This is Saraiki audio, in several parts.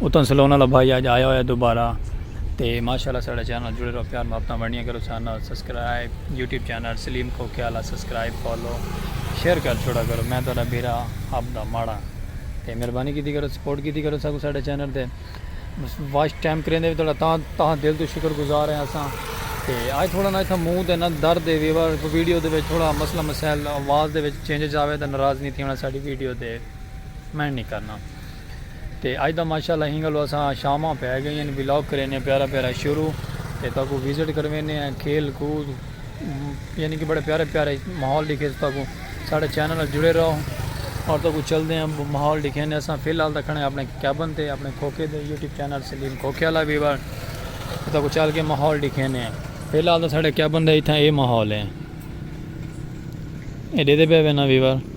اتوں سلون والا بھائی آج آیا ہویا دوبارہ تے ماشاءاللہ ساڑا چینل جڑے رہو پیار محبتاں بنڑیاں کرو channel subscribe YouTube channel Saleem کو کھیالا سبسکرائب فالو شیئر کر چھوڑا کرو میں تہاڈا بیرا آپ دا ماڑا تے مہربانی کیتی کرو سپورٹ کیتی کرو ساکو ساڑے چینل تے واچ ٹائم کریندے بھی تہاڈا تاں تاں دل تو شکر گزار ہیں اساں تے آج تھوڑا نا تھا منہ تے نا درد ہے ویور ویڈیو دے وچ تھوڑا مسئلہ مسائل آواز دے وچ چینجز آوے تے ناراض نہیں تھیونا ساڈی ویڈیو تے میں نہیں کرنا تے اج دا ماشاءاللہ ہینگلو اساں شاماں پئے گئین ولاگ کرینے پیارا پیارا شروع تے تہاکوں وزٹ کروینے آں کھیل کود یعنی کہ بڑے پیارے پیارے ماحول ڈیکھیس تہاکوں ساڈے چینل نال جڑے رہو اور تہاکوں چلدے آں ماحول ڈیکھینے اساں فی الحال تاں کھڑے آں اپنے کیبن تے اپنے کھوکھے دے یوٹیوب چینل سلیم کھوکھے والا ویور تے تہاکوں چل کے ماحول ڈیکھینے آں فی الحال تاں ساڈے کیبن دے اتھاں اے ماحول ہے اے ڈیدھے پئے وینا ویور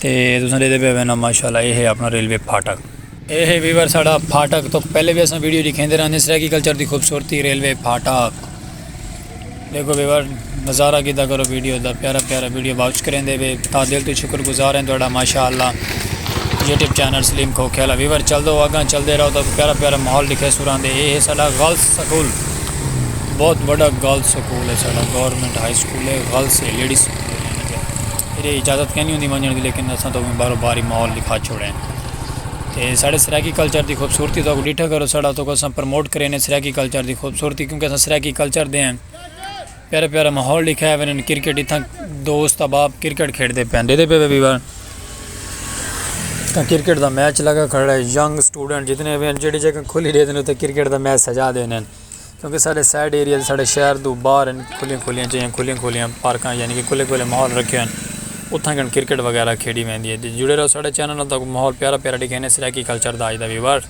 تے تساں ڈیکھدے پئے وینا ماشاءاللہ اے ہے اپنا ریلوے پھاٹک۔ اے ہے ویور ساڈا پھاٹک تو پہلے وی اساں ویڈیو ڈکھیندے رہندے سرائیکی کلچر دی خوبصورتی ریلوے پھاٹک دیکھو ویور نظارہ کیتا کرو ویڈیو دا پیارا پیارا ویڈیو واچ کریندے پئے تا دل تو شکر گزار ہیں تہاڈا ماشاءاللہ یوٹیوب چینل سلیم کھوکھے والا ویور چل دو اگاں چل دے رہو تو پیارا پیارا ماحول ڈکھے سوراں دے اے ہے ساڈا غلط سکول بہت وڈا غلط سکول ہے ساڈا گورنمنٹ ہائی سکول ہے غلط سے لیڈیز سکول ہے۔ ایڈے اجازت کینی ہوندی ونجنڑ دی لیکن اساں تاں اوویں باہرو باہر ہی ماحول ڈکھا چھوڑیں تے ساڈے سرائیکی کلچر دی خوبصورتی تہاکوں ڈیٹھا کرو ساڈا تہاکوں اساں پروموٹ کرینے سرائیکی کلچر دی خوبصورتی کیونکہ اساں سرائیکی کلچر دے ہیں پیارا پیارا ماحول ڈکھایا ویندے کرکٹ اتھاں دوست احباب کرکٹ کھیڈدے پئے ڈیدھے پئے وی بار تاں کرکٹ دا میچ لگا کھڑا ہے ینگ اسٹوڈنٹ جتنے وی ہیں جیڑھی جگہ کھلی ڈیندے نے اتھے کرکٹ دا میچ سجا دینے۔ کیونکہ ساڈے سائیڈ ایریاز ساڈے شہر توں باہر ہن کھلیاں کھلیاں جیہاں کھلیاں کھلیاں پارکاں یعنی کہ کھلے کھلے ماحول رکھے ہن اتھاں کن کرکٹ وغیرہ کھیڈی ویندی ہے جڑے رہو ساڈے چینل نال تہاکوں ماحول پیارا پیارا ڈکھیندے سرائیکی کلچر دا اج دا ویور۔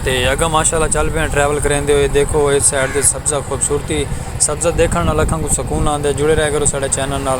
تے اگاں ماشاءاللہ چل پے آں ٹریول کریندے ہوئے دیکھو اس سائیڈ تے سبزہ خوبصورتی سبزہ دیکھن نال اکھاں کوں سکون آندے جڑے رہیا کرو ساڈے چینل نال۔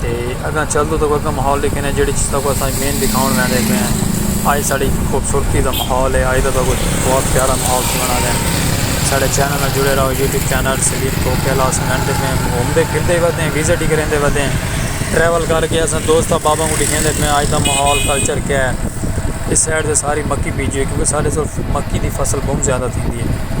تے اگاں چل دو تو اگاں ماحول دے کنے جیڑی چیز تاکو اساں مین دکھاؤن میں دے پین آئی ساڑی خوبصورتی دا ماحول ہے آئی دا تاکو بہت پیارا ماحول تھی بنا دے ساڑے چینل میں جڑے رہو یوٹیوب چینل سلیم کو کیلاس میں دے پین گھوم دے پھر دے ودیں ویزٹ ہی کریں دے ودیں ٹریول کر کے اساں دوست و بابا کو دکھیں دے پین آئی دا ماحول کلچر کیا ہے اس سائڈ دے ساری مکی بیجی ہے کیونکہ سارے سارے مکی دی فصل بہت زیادہ تھی دی ہے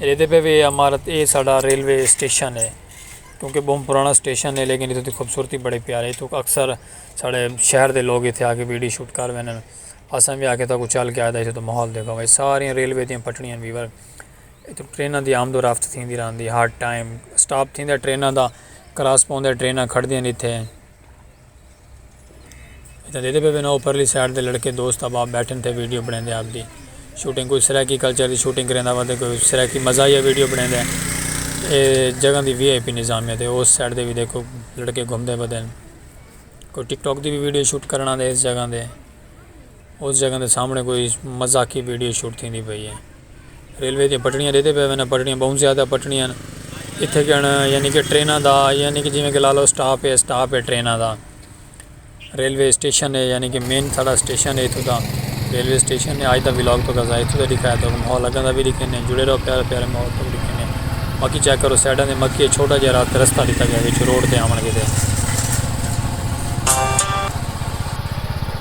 ایندے پے وی اے عمارت اے ساڈا ریلوے اسٹیشن اے کیونکہ بہوں پرانا اسٹیشن اے لیکن اتھوں دی خوبصورتی بڑی پیاری اتھوں اکثر ساڈے شہر دے لوگ اتھے آ کے ویڈیو شوٹ کر ویندن اساں وی آکھیا تہاکوں چل کے آئے اتھوں دا ماحول دیکھاں اے ساری ریلوے دیاں پٹڑیاں ہن ویور اتھوں ٹریناں دی آمد و رفت تھیندی رہندی ہر ٹائم سٹاپ تھیندا ٹریناں دا کراس پوندا ٹریناں کھڑدیاں ہن اتھے۔ اتنا دیدے پہ بنا اوپرلی سائٹ دے لڑکے دوست احباب بیٹھن تھے ویڈیو بنے دے آپ دی شوٹنگ کوئی سرائیکی کلچر دی شوٹنگ کریں دا وقت کوئی سرائیکی مزاحیہ ویڈیو بنے دے اے جگہ دی وی آئی پی نظامیہ دے اس سائٹ دے بھی دیکھو لڑکے گھوم دے بدن کوئی ٹک ٹاک دی بھی ویڈیو شوٹ کرنا دے اس جگہ دے اس جگہ دے سامنڑے کوئی مذاقی ویڈیو شوٹ تھیندی پئی اے۔ ریلوے دیاں پٹڑیاں ڈیدھے پئے ویندے پٹڑیاں بہوں زیادہ پٹڑیاں ہن اتھے کن یعنی کہ ٹریناں دا یعنی کہ جیویں کہ لا لو سٹاپ اے سٹاپ اے ٹریناں دا ریلوے اسٹیشن اے یعنی کہ مین ساڑا اسٹیشن اے اتھوں دا ریلوے اسٹیشن اے آج دا ولاگ تو کزا اتھوں دا دکھایا تو ماحول اگاں دا بھی دکھینے جڑے رہو پیارے پیارے ماحول تو بھی دکھینے باقی چیک کرو سائیڈاں دے مکی چھوٹا جہرا رستہ دتا گیا وچ روڈ تے آون گے دے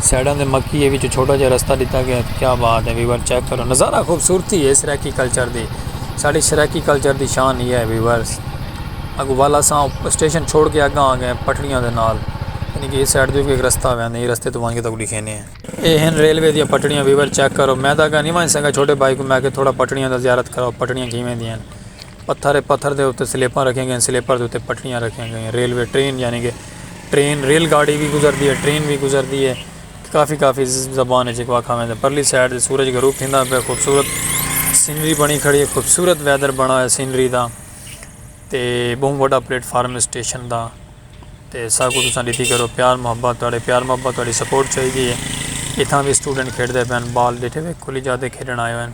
سائیڈاں دے مکیے وچ چھوٹا جہا رستہ ڈتا گیا کیا بات ہے ویور چیک کرو نظارہ خوبصورتی ہے سرائیکی کلچر دی ساڑی سرائیکی کلچر دی شان یہ ہے ویورز اگو والا ساں اسٹیشن چھوڑ کے اگاں آ گئے پٹڑیاں دے نال یعنی کہ اس سائیڈ دے بھی ایک رستہ ہویا ہے یہ رستے تو وانگے تو لکھینے ہیں اے ہیں ریلوے دیا پٹڑیاں ویور چیک کرو میں دا گا نہیں وانج سنگا چھوٹے بھائی کو میں کہ تھوڑا پٹڑیاں دا زیارت کرو پٹڑیاں کھیمیں دیا ہیں پتھر پتھر دے اتے سلیپاں رکھیں گے سلیپر دے اتے پٹڑیاں رکھیں گے ریلوے ٹرین یعنی کہ ٹرین ریل گاڑی وی گزردی ہے ٹرین وی گزردی ہے کافی کافی زبان ہے جیکو آکھا میں تے پرلی سائیڈ دے سورج غروب تھیندا پہ خوبصورت سینری بنی کھڑی ہے خوبصورت ویدر بنا ہے سینری دا تے بہوں بڑا پلیٹ فارم اسٹیشن دا تے سا کو تساں ڈیتی کرو پیار محبت تڑے پیار محبت تڑی سپورٹ چاہی دی ہے اتھاں بھی اسٹوڈنٹ کھیڑ دے پین بال ڈیٹھے وے کھلی جاتے کھیڑن آئے ہوئے ہیں